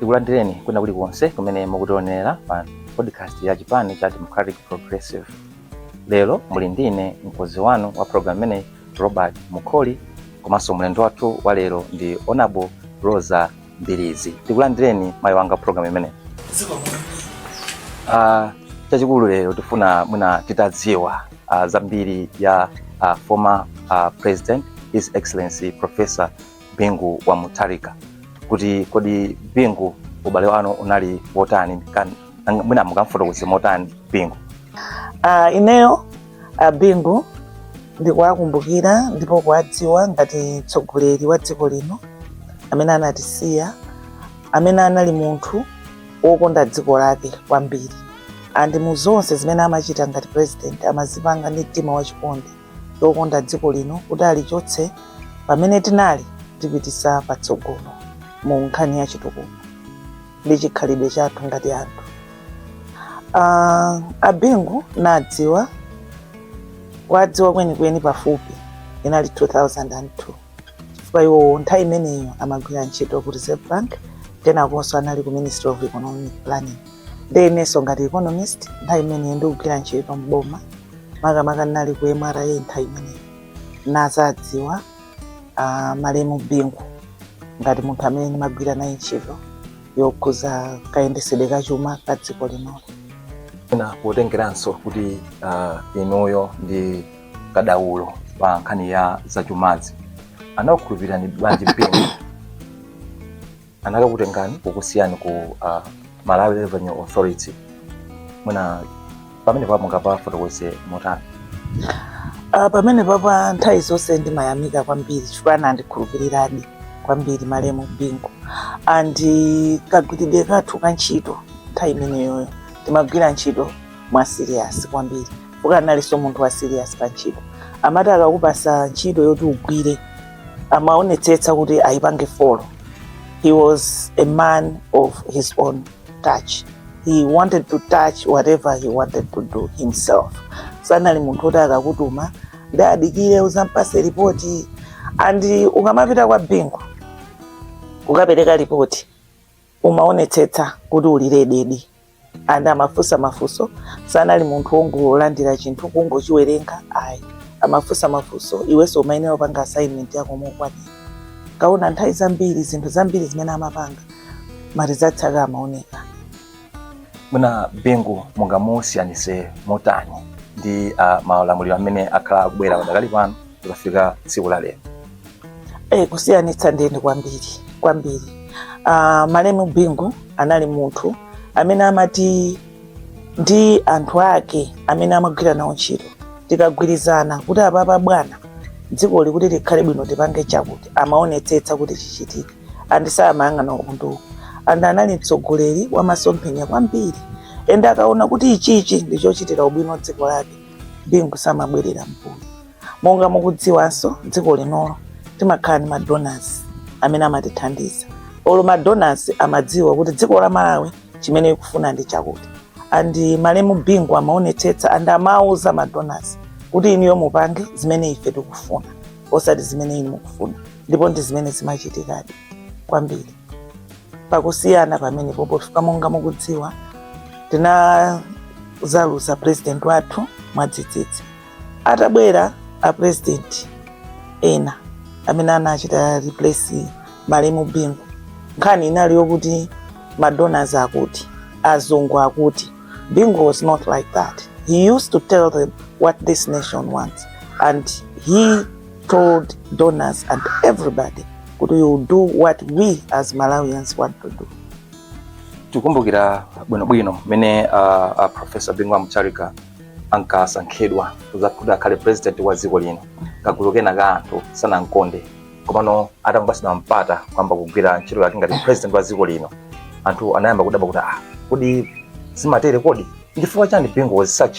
tikulandireni kwina kulikonse kumene mukutionera pa podcast ya chipani cha democratic progressive lero muli ndine mkonzi wanu wa program imeneyi Robert Mukoli komanso mlendo wathu wa lero ndi Honorable Rosa Mbilizi. Tikulandireni mayi mu program imeneyi. Uh, chachikulu lero tifuna mwina titadziwa uh, zambiri za uh, former uh, president His Excellency Professor Bingu wa Mutharika kuti kodi Bingu ubale wanu unali wotani Kan- nanga- mwina mungamfotokoze motani Bingu Uh, ineyo a bingu ndikuwakumbukira ndipo kuwadziwa ngati mtsogoleri wa dziko lino amene anatisiya amene anali munthu wokonda dziko lake kwambiri and mu zonse zimene amachita ngati president amazipanga ndi mtima wachikondi wokonda dziko lino kuti alichotse pamene tinali alipititse patsogolo mu nkhani ya chitukuko ndi chikhalidwe chathu ngati anthu uh, abingu nadziwa kuwadziwa kwenikweni pafupi inali 2002 chifukwa iwowo nthawi imeneyo amagwira ntchito ku reserve bank penakenso anali ku ministry of economic planning ndi inenso ngati economist nthawi imeneyo ndikugwira ntchito mboma makamaka ndinali ku mra nthawi imeneyo nadzawadziwa uh, malemu bingu ngati munthu amene ndimagwira naye ntchito yokhudza kayendetsedwe ka chuma ka dziko linoli Ndiye potengeranso kuti uh, inuyo ndi kadaulo pa nkhani ya zachumazi anakukhulupirirani bwanji Bingu anakutengani kukusiyani ku uh, malawi revenue authority mwina pamenepapo mungapafotokoze motani Uh, pamenepapa nthawi zonse ndimayamika kwambiri chifukwa anandikhulupiriradi kwambiri malemu bingu and kagwiridwe kathu ka ntchito nthawi imeneyoyo timagwira ntchito mwa serious kwambiri chifukwa analinso munthu wa serious pa ntchito amati akakupasa ntchito yoti ugwire amaonetsetsa kuti ayipange folo He was a man of his own touch. He wanted to touch whatever he wanted to do himself. Sanali munthu oti akakutuma ndi adikire uzampase ripoti and ukamapita kwa bingu ukapereka ripoti umaonetsetsa kuti uli ready and amafunsa mafunso sanali munthu wongolandira chinthu kungochiwerenga ayi amafunsa mafunso iwenso umayenera kupanga assignment yako mokwanira nkaona nthawi zambiri zinthu zambiri zimene amapanga maresults ake amaoneka bingu mungamusiyanise motani ndi uh, malamuliro amene akhala akubwera padakali pano tikafika tsiku la lero Eh, kusiyanitsa nde ndi kwambiri kwambiri uh, malemu bingu anali munthu amene amati ndi anthu ake amene amagwira nawo ntchito tikagwirizana kuti apapa bwana dzikoli kuti likhale bwino tipange chakuti amaonetsetsa kuti chichitike andi samayang'ana nkhondo andi anali mtsogoleri wa masomphenya kwambiri ende akaona kuti ichichi ndichochitira ubwino dziko lake bingu samabwerera mbuyo monga mukudziwanso dziko linolo timakhala ndi madonors amene amatithandiza olo madonors amadziwa kuti dziko la malawi chimene ikufuna ndi chakuti and malemu bingu amaonetsetsa and amauza madonors kuti inuyo mupange zimene ife tikufuna osati zimene inu mukufuna ndipo ndi zimene zimachitikadi kwambiri pakusiyana pamenepo pofika monga mukudziwa tinazaluza president wathu mwadzidzidzi atabwera a president ena amene anachita replace malemu bingu nkhani inali yokuti madonors akuti azungu akuti bingu was not like that he used to tell them what this nation wants and he told donors and everybody kuti we will do what we as malawians want to do tikumbukira bwinobwino mmene uh, uh, profesa bingu wa mutharika ankasankhidwa kuza- kuti akhale president wa dziko lino kagulu kena ka anthu sanamkonde komano atangopatsidwa mpata kuyamba kugwira ntchito yake ngati president wa dziko lino anthu anayamba kudabwa kuti ah, kodi zimatere kodi ndi chifukwa chani bingu was such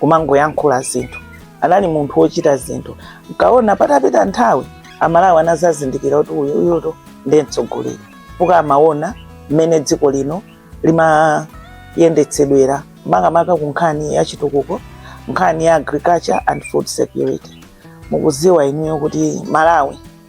kumangoyankhula zinthu anali munthu wochita zinthu nkaona patapita nthawi amalawi anazazindikira kuti uyu uyutu ndiye mtsogoleri chifukwa amaona mmene dziko lino limayendetsedwera makamaka ku nkhani ya chitukuko nkhani ya agriculture and food security mukuziwa inuyo kuti malawi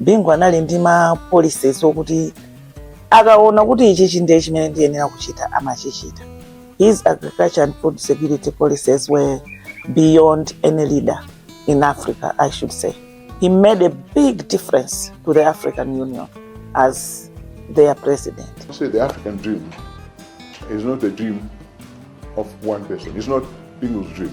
Bingu anali ndi ma policies okuti akaona kuti ichi chinde chimene ndiyenera kuchita amachichita. His agriculture and food security policies were beyond any leader in Africa, I should say. He made a big difference to the African Union as their president. Say the African dream is not the dream of one person. It's not Bingu's dream.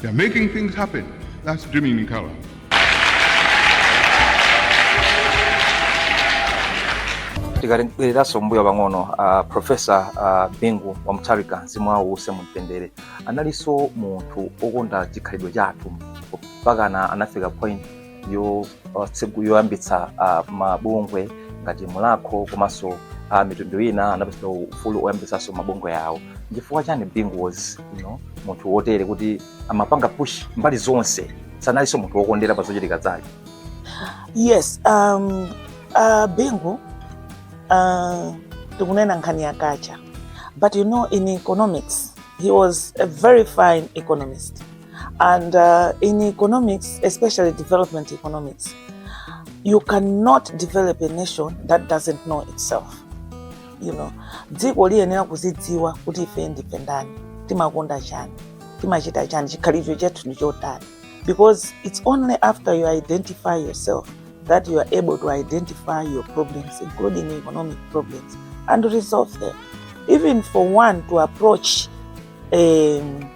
They're making things happen. That's Jimmy Nicola. tikatibwereranso mbuyo pang'ono uh, profesa uh, bingu wa mutharika mzimu wawo uuse mumtendere analinso munthu okonda chikhalidwe chathu mpakana anafika point yo- otsegu- yoyambitsa ah, mabungwe ngati mulakho komanso ah, mitundu ina anapatsidwa ufulu woyambitsanso mabungwe awo chifukwa chani bingu was you know, munthu wotere kuti amapanga push mbali zonse sanalinso munthu wokondera pa zochitika zake yes um, uh, bingu uh, tikunena nkhani ya culture but you know in economics he was a very fine economist And uh, in economics, especially development economics, you cannot develop a nation that doesn't know itself. You know, dziko liyenera kuzidziwa kuti ife ndife ndani, timakonda chani, timachita chani, chikhalidwe chathu ndi chotani. Because it's only after you identify yourself that you are able to identify your problems, including economic problems, and resolve them. Even for one to approach um,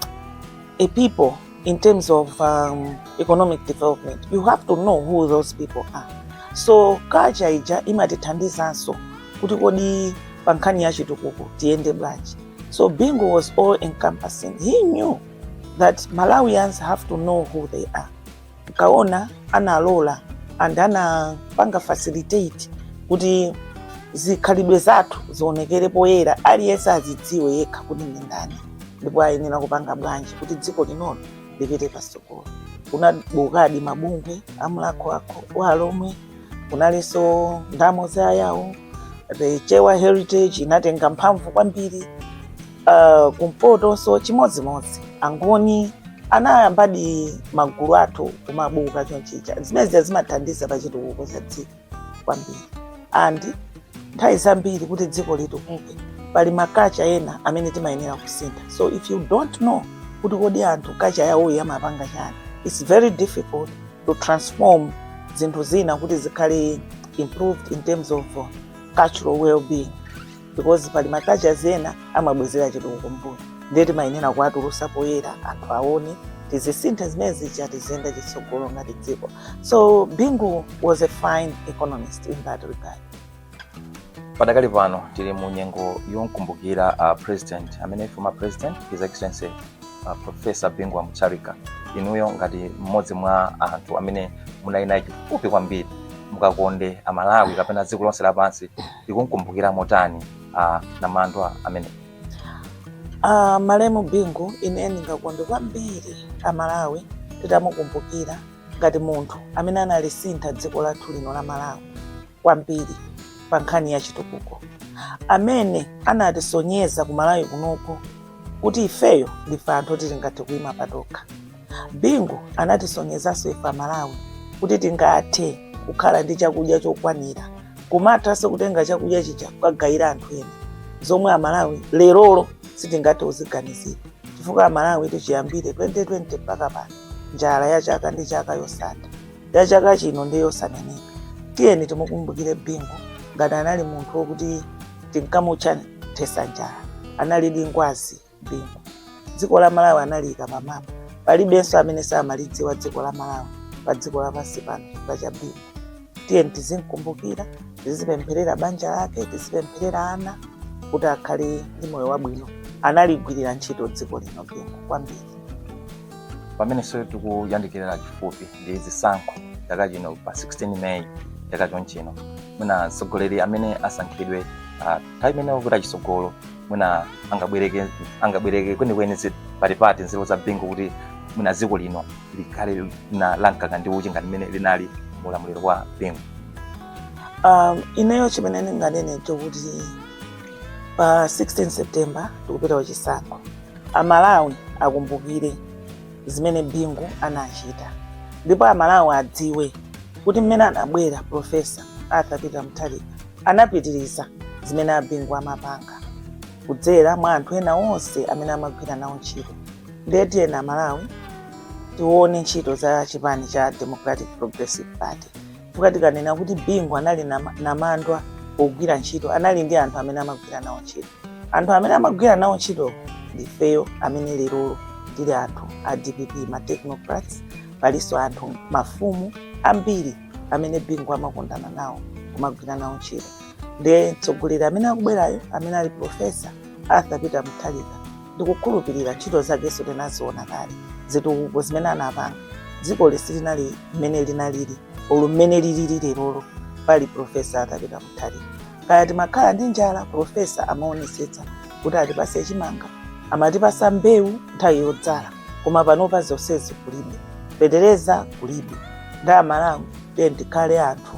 a people in terms of um, economic development, you have to know who those people are. So culture ija imatithandizanso kuti kodi pa nkhani ya chitukuko tiyende bwanji. So Bingu was all encompassing. He knew that Malawians have to know who they are. kaamba analola and anapanga facilitate kuti zikhalidwe zathu zionekere poyera aliyense azidziwe yekha kuti ndi ndani ndipo ayenera kupanga bwanji kuti dziko linolo lipite patsogolo kunabukadi mabungwe a Mulakho wa Alomwe kunalinso Ndamo za Ayao the Chewa heritage inatenga mphamvu kwambiri uh, kumpotonso chimodzimodzi angoni anayambadi magulu athu kumabuka choncho zimenezi zimathandiza pa chitukuko cha dziko kwambiri and nthawi zambiri kuti dziko litukuke pali maculture ena amene timayenera kusintha so if you don't know kuti kodi anthu culture yawoyo amapanga chani it's very difficult to transform zinthu zina kuti zikhale improved in terms of uh, cultural well-being because pali macultures ena amabwezera chitukuko mbuyo ndiye timayenera kuwatulusa poyera anthu aone tizisintha zimene zija tiziyenda chitsogolo ngati dziko so bingu was a fine economist in that regard padakali pano tili mu nyengo yomkumbukira uh, president amene former president his excellency uh, professor bingu wa mutharika inuyo ngati mmodzi mwa anthu amene munali naye chifupi kwambiri mungakonde Amalawi kapena dziko lonse lapansi tikumkumbukira motani namandwa amene Uh, malemu bingu ine ndingakonde kwambiri amalawi titamukumbukira ngati munthu amene analisintha dziko lathu lino la malawi kwambiri pa nkhani ya chitukuko amene anatisonyeza ku Malawi kunoko kuti ifeyo ndife anthu oti tingathe kuima patokha Bingu anatisonyezanso ife Amalawi kuti tingathe kukhala ndi chakudya chokwanira kumathanso kutenga chakudya chija kukagayira anthu ena zomwe Amalawi lerolo sitingathe kuziganizira chifukwa Amalawi tichiyambire 2020 mpaka pano njala ya chaka ndi chaka yosatha ya chaka chino ndi yosaneneka. Tiyeni timukumbukire Bingu ngati anali munthu wokuti tinkamutcha mthetsa njala, analidi ngwazi. bingu dziko la malawi analiyika pa mapu palibenso amene samalidziwa dziko la malawi pa dziko lapansi pano chifukwa cha bingu tiye tizimkumbukira tizipempherera banja lake tizipempherera ana kuti akhale ndi moyo wabwino analigwirira ntchito dziko lino bingu kwambiri pamenenso tikuyandikira chifupi ndi zisankho chaka chino pa 16 meyi chaka chonchino mwina atsogoleri amene asankhidwe ah, nthawi imeneyo kuti achisogolo mwina angabwereke angabwereke kwenikweni zi- patipati nzeru za bingu kuti mwina dziko lino likhalenso lankaka ndi uchi ngati mmene linali mu ulamuliro wa bingu um, ineyo chimene ndinganene nchokuti pa 16 september tikupita kuchisankho amalawi akumbukire zimene bingu anachita ndipo amalawi adziwe kuti mmene anabwera profesa arthur peter mutharika Anapitiriza zimene a Bingu amapanga kudzera mwa anthu ena onse amene amagwira nawo ntchito. Ndiye tiyeni Amalawi tione ntchito za chipani cha Democratic Progressive Party chifukwa tikanena kuti Bingu anali nama- namandwa pogwira ntchito anali ndi anthu amene amagwira nawo ntchito. Anthu amene amagwira nawo ntchito ndifeyo amene lerolo tili anthu a DPP ma technocrats palinso anthu mafumu ambiri amene bingu amakondana nawo kumagwira nawo ntchito ndiye mtsogoleri amene akubwerayo amene ali profesa arthur peter mutharika ndikukhulupirira ntchito zakenso tinaziona kale zitukuko zimene anapanga dziko lisili mmene linalili olo mmene lilili lerolo pali profesa arthur peter mutharika kaya timakhala ndi njala profesa amaonesetsa kuti atipase chimanga amatipasa mbewu nthawi yodzala koma panopa zonsezi kulibe fetereza kulibe ndamala mu tiyeni tikhale anthu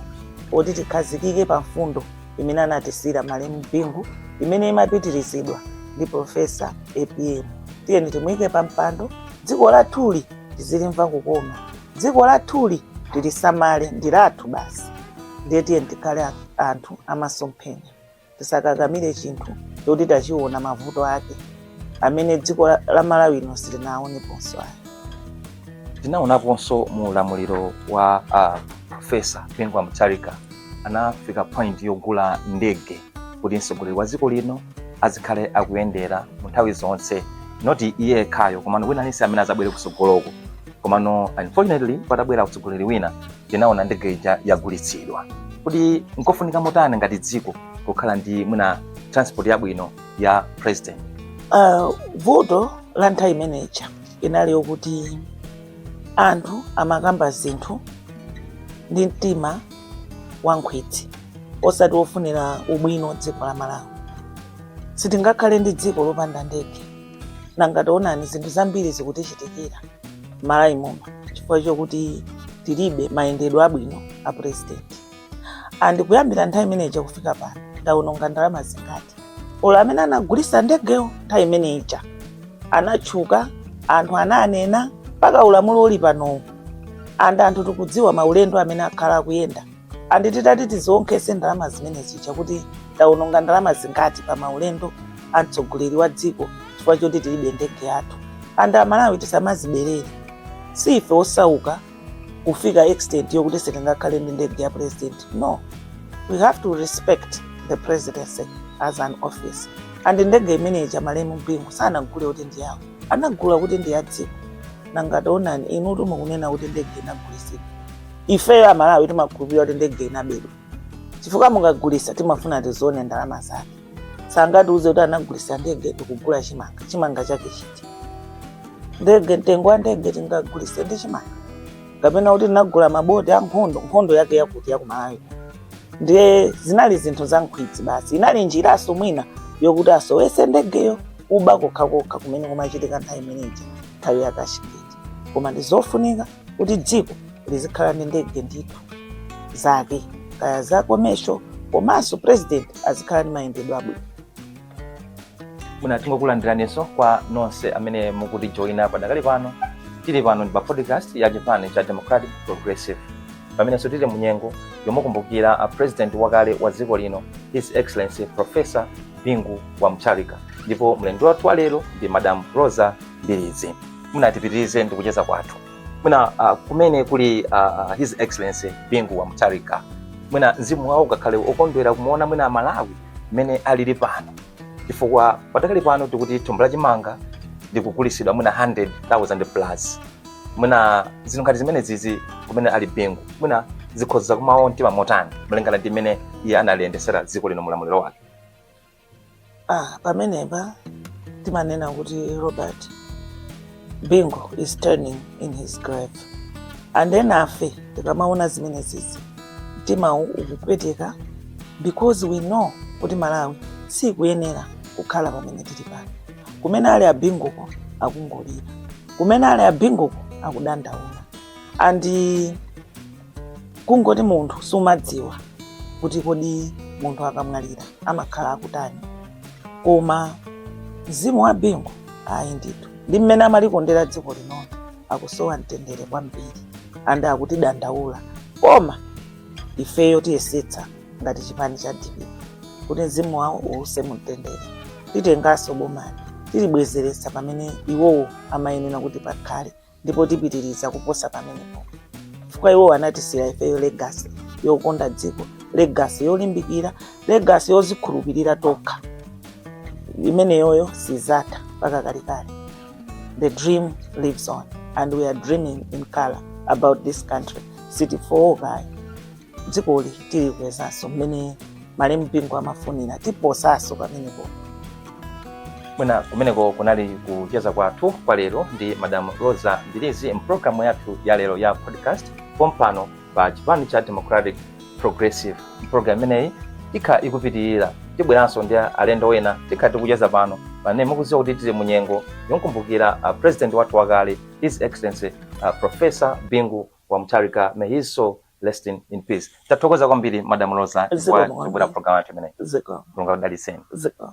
oti tikhazikike pa mfundo imene anatisiyira malemu bingu imene imapitirizidwa ndi profesa apm tiyeni timuyike pa mpando dziko lathuli tizilimva kukoma dziko lathuli tilisamale ndi lathu basi ndiye tiyeni tikhale anthu amasomphenya tisakakamire chinthu choti tachiona mavuto ake amene dziko la- la malawi lino silinaoneponso ayi tinaonaponso mu ulamuliro wa uh, profesa bingu wa mutharika anafika point yogula ndege kuti mtsogoleri wa dziko lino azikhale akuyendera mu nthawi zonse noti iye yekhayo komano wina aliyense amene azabwere kutsogoloko komano unfortunately patabwera utsogoleri wina tinaona ndege ija yagulitsidwa kuti nkofunika motani ngati dziko kukhala ndi mwina transport yabwino ya president uh, vuto la nthawi imeneja inali yokuti anthu amakamba zinthu ndi mtima wankhwidzi osati wofunira ubwino dziko la malawi sitingakhale ndi dziko lopanda ndege nanga taonani zinthu zambiri zikutichitikira m'Malawi muno chifukwa chokuti tilibe mayendedwe abwino a purezidenti and kuyambira nthawi imeneja kufika pano taononga ndalama zingati olo amene anagulisa ndegewo nthawi imene ija anatchuka anthu ananena mpaka ulamuliro uli panowu and anthu tikudziwa maulendo amene akhala akuyenda andi titati tiziwonkhese ndalama zimene zija kuti tawononga ndalama zingati pa maulendo a mtsogoleri wa dziko chifukwa choti tilibe ndege yathu and amalawi tisamazipeputse si ife osauka kufika extent yokuti sitingakhale ndi ndege ya president no we have to respect the presidency as an office and ndege imene ija malemu bingu sanagule kuti ndi yawo anagula kuti ndi ya dziko nanga taonani inutu mukunena kuti ndege inagulisidwa ifeyo amalawi timakhulupirira kuti ndege inabedwa chifukwa mukagulisa timafuna tizione ndalama zake sangatiuze kuti anagulisa ndege nkugula chimanga chimanga chake chiti ndege mtengo wa ndege tingagulise ndi chimanga kapena kuti tinagula maboti a nkhondo nkhondo yake yakuti yakumalawi ndiye zinali zinthu za nkhwidzi basi inali njiranso mwina yokuti asowese ndegeyo uba kokhakokha kumene kumachitika nthawi imeneyi nthawi ya cashgate koma ndi zofunika kuti dziko lizikhala ndi ndege ndithu zake kaya za commercial komanso president azikhala ndi mayendedwe abwino bwino tingokulandiranenso kwa nonse amene mukutijoyina padakali pano tili pano ndi pa podcast ya chipani cha democratic progressive pamenenso tili munyengo yomakumbukira a president wakale wa dziko lino his excellency professor bingu wa mutharika ndipo mlendo wathu wa lero ndi madam rosa mbilizi mwina tipitirize ndi kucheza kwathu mwina uh, kumene kuli uh, his excellency bingu wa mutharika mwina mzimu wawo ungakhale okondwera kumuona mwina amalawi mmene alili pano chifukwa padakali pano tikuti thumba la chimanga likugulisidwa mwina 100,000 plus mwina zinthu ngati zimene zizi kumene ali bingu mwina zikhoza kumawawa mtima motani malingana ndi mmene iye analiyendetsera dziko lino mulamuliro wake ah, pamenepa timanena kuti robert bingu is turning in his grave and enafe tikamaona zimene zizi mtima ukupweteka because we know kuti malawi sikuyenera kukhala pamene tili pano kumene ali abinguko akungolira kumene ali abinguko akudandaula and kungoti munthu sumadziwa kuti kodi munthu akamwalira amakhala akutani koma mzimu wa bingu ayi ndithu ndi mmene amalikondera dziko linoli akusowa mtendere kwambiri ande akutidandaula koma ifeyo tiyesetsa ngati chipani cha dpp kuti mzimu wawo uuse mumtendere titenganso bomali tilibwezeretsa pamene iwowo amayenera kuti pakhale ndipo tipitiriza kuposa pamenepo chifukwa iwo anatisiyira ifeyo legasi yokonda dziko legasi yolimbikira legasi yozikhulupirira tokha imeneyoyo sizatha mpaka kalekale the dream lives on and we are dreaming in color about this country sitifooka ayi dzikoli tilikwezanso mmene malemu bingu amafunira tiposanso pamenepo mwina kumeneko kunali kucheza kwathu kwa lero ndi madam rosa mbilizi mpulogalamu yathu ya lero ya podcast pompano pa chipani cha democratic progressive mpulogalamu imeneyi ikhala ikupitirira tibweranso ndi alendo ena tikhala tikucheza pano pamene mukudziwa kuti tili munyengo yokumbukira uh, president wathu wakale his excellency uh, professor bingu wa mutharika may his soul Rest in, in peace. Tathokoza kwambiri Madam Rosa Zikomo chifukwa kwambiri. chobwera program yathu imeneyi. Zikomo. Mulungu akudalitseni. Zikomo.